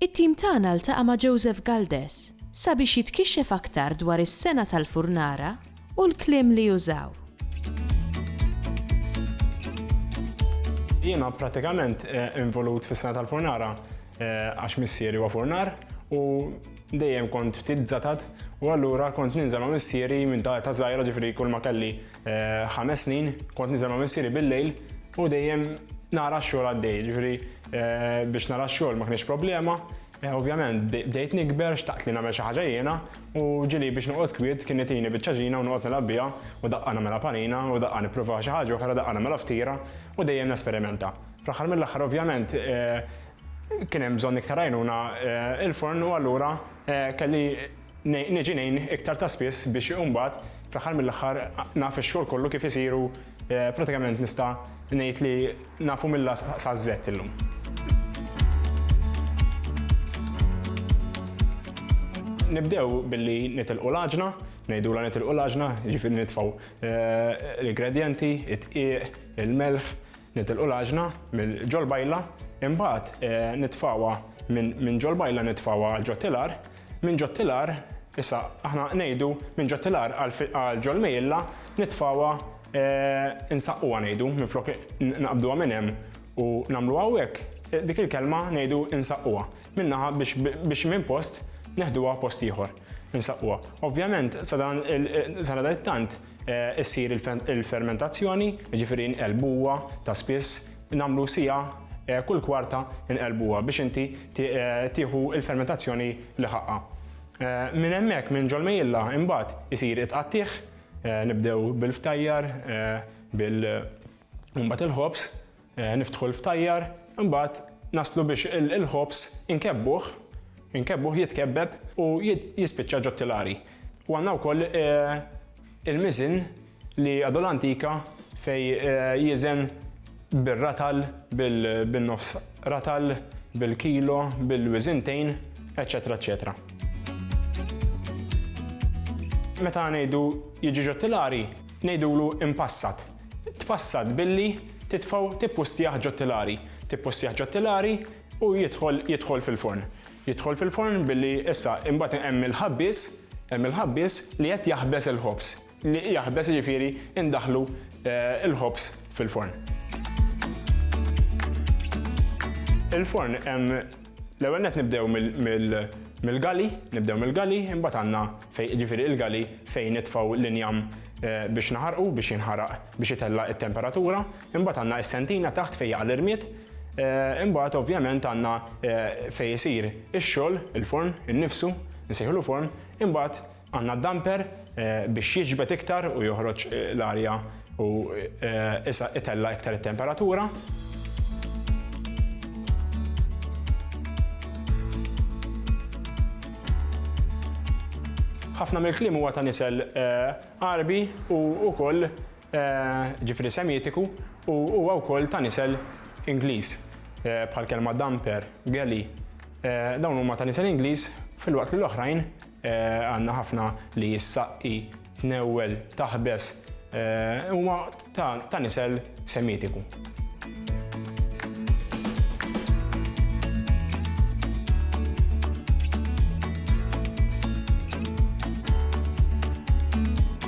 It-tim tagħna ltaqa' ma' Joseph Galdes sabiex jitkixxef aktar dwar is-sengħa tal-furnara u l-kliem li użaw. Jiena prattikament involut fis-sengħa tal-furnara għax missieri huwa furnar u dejjem kont ftit żatat u allura kont ninżel ma' missieri minn ta' żgħira ġifieri kulma kelli Eh, ħames snin, kont niżel ma' missieri bil-lejl u dejjem nara xogħol għaddej, ġifri eh, biex nara xogħol ma kienx problema. Eh, ovvjament, bdejt nikber, xtaqt li nagħmel xi ħaġa jiena u ġili biex noqgħod kwiet kien nitini biċ-ċaġina u noqgħod nilgħab biha u daqqa nagħmel panina u daqqa nipprova xi ħaġa oħra daqqa nagħmel ftira u dejjem nesperimenta. Fl-aħħar mill-aħħar ovvjament kien hemm bżonn iktar għajnuna il-forn u allura kelli Niġi ngħin iktar ta' spiss biex imbagħad fl-aħħar mill-aħħar naf ix-xogħol kollu kif isir u pratikament nista' ngħid li nafu mill-A saz-Z illum. Nibdew billi nitilqu l-għaġna, ngħidulha nitilqu l-għaġna, jiġifieri nitfgħu l-ingredjenti, id-dqiq, il-melħ, nitilqu l-għaġna mill-ġol-bajla, imbagħad nitfgħuha minn ġol-bajla nitfgħuha ġo tilar, Minn ġo t-tilar, issa aħna ngħidu minn ġo t-tilar għal ġo l-mejjilla nitfgħuha insaqquha ngħidu minflok naqbduha minn hemm u nagħmluha hawnhekk, dik il-kelma ngħidu insaqquha minn naħa biex minn post neħduha post ieħor, insaqquha. Ovvjament sadan sadanittant Issir il-fermentazzjoni, jiġifieri nqelbuha ta' spiss, nagħmlu siegħa kull kwarta nqelbuha biex inti tieħu l-fermentazzjoni li ħaqqha. Minn hemmhekk minn ġol-mejjilla imbagħad isir it-tqattigħ, nibdew bil-ftajjar, bil u mbagħad il-ħobż. Niftħu l-ftajjar, imbagħad naslu biex il-ħobż inkebbuh, inkebbuh jitkebbeb u jispiċċa ġot-tilari. U għandna wkoll il-miżien li għadu l-antika fejn jiżen bir-ratal, bin-nofs ratal, bil-kilo, bil-wiżintejn, eċċetera eċċetera. Meta ngħidu jiġi ġot-tilari, ngħidulu impassat. tpassat billi titfgħu tippustjah ġo tilari, tippustjah ġo tilari u jidħol jidħol fil-forn. Jidħol fil-forn billi issa imbagħad hemm il-ħabbies, hemm il-ħabbies li qed jaħbes il-ħobż, li jaħbes jiġifieri indaħħlu l-ħobż fil-forn. Il-forn hemm L-ewwel net nibdew mill-gali, nibdew mill-gali, imbagħad għandna fejn ġifieri il-gali fejn nitfgħu l-injam eh, biex naħarqu, biex jinħaraq, biex itella' it-temperatura, imbagħad għandna s-sentina taħt fejn jaqa' l-irmied, eh, imbagħad ovvjament għandna eh, fejn isir ix-xogħol, il-forn, innifsu, nsejħlu forn, imbagħad Għandna d-damper biex jiġbed iktar u joħroġ l-arja u issa itella' iktar it-temperatura. ħafna mill-kliem huwa ta' nisel Għarbi u wkoll ġifri Semitiku u huwa wkoll ta' nisel Ingliż bħal kelma damper, galley. Dawn huma ta' nisel Ingliż filwaqt li l-oħrajn Għandna ħafna li s-saqqi, tnewwel, taħbes, huma ta' nisel Semitiku.